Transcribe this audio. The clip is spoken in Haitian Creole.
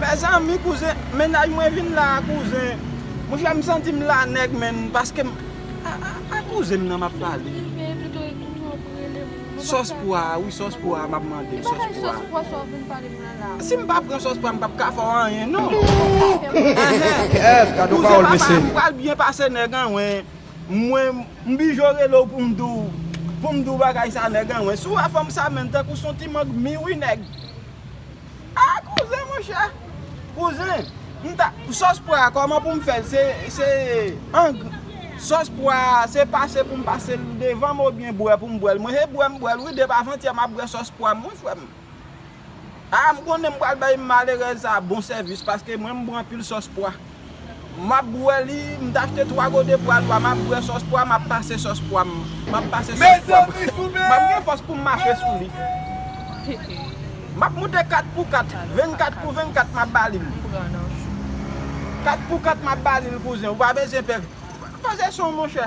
Mezanmi kouzen mennaj mwen vin la kouzen mwen fèm santim la nèg menn paskem a kouzenm nan map pale sòs pwa wi sòs pwa map mandem sòs pwa sim pa pran sòs pwa mpap ka fèw anyen non kouzen papa mwen pral byen pase nèg anwen. Mwen m bijo rele w pou m di w pou m di w bagay sa nèg an mwen si w wè fanm sa menn tankou son ti mang hmi wi nèg ah kouzen monchè kouzen m ta sòs pwa a kòman pou m fè l se ang sòs pwa a se pase pou m pase l devan m oubyen bwè pou m bwè l mwen se bwè m bwè l wi depi avantyè m ap bwè sòs pwa m wi frè m. Aa m konnen m pral bay malerèz sa bon sèvis paske mwen m bwe anpil sòs pwa map bwè li m t achte 3 gode pwa nwa map bwè sòs pwa map pase sòs pwa m map pase sòs pwa m map gen fòs poum mache sou li map moute 4 pou 4 24 pou 24 map ba li l 4 pou 4 map ba li l kouzen ou pa bezyen pè koze son monchè.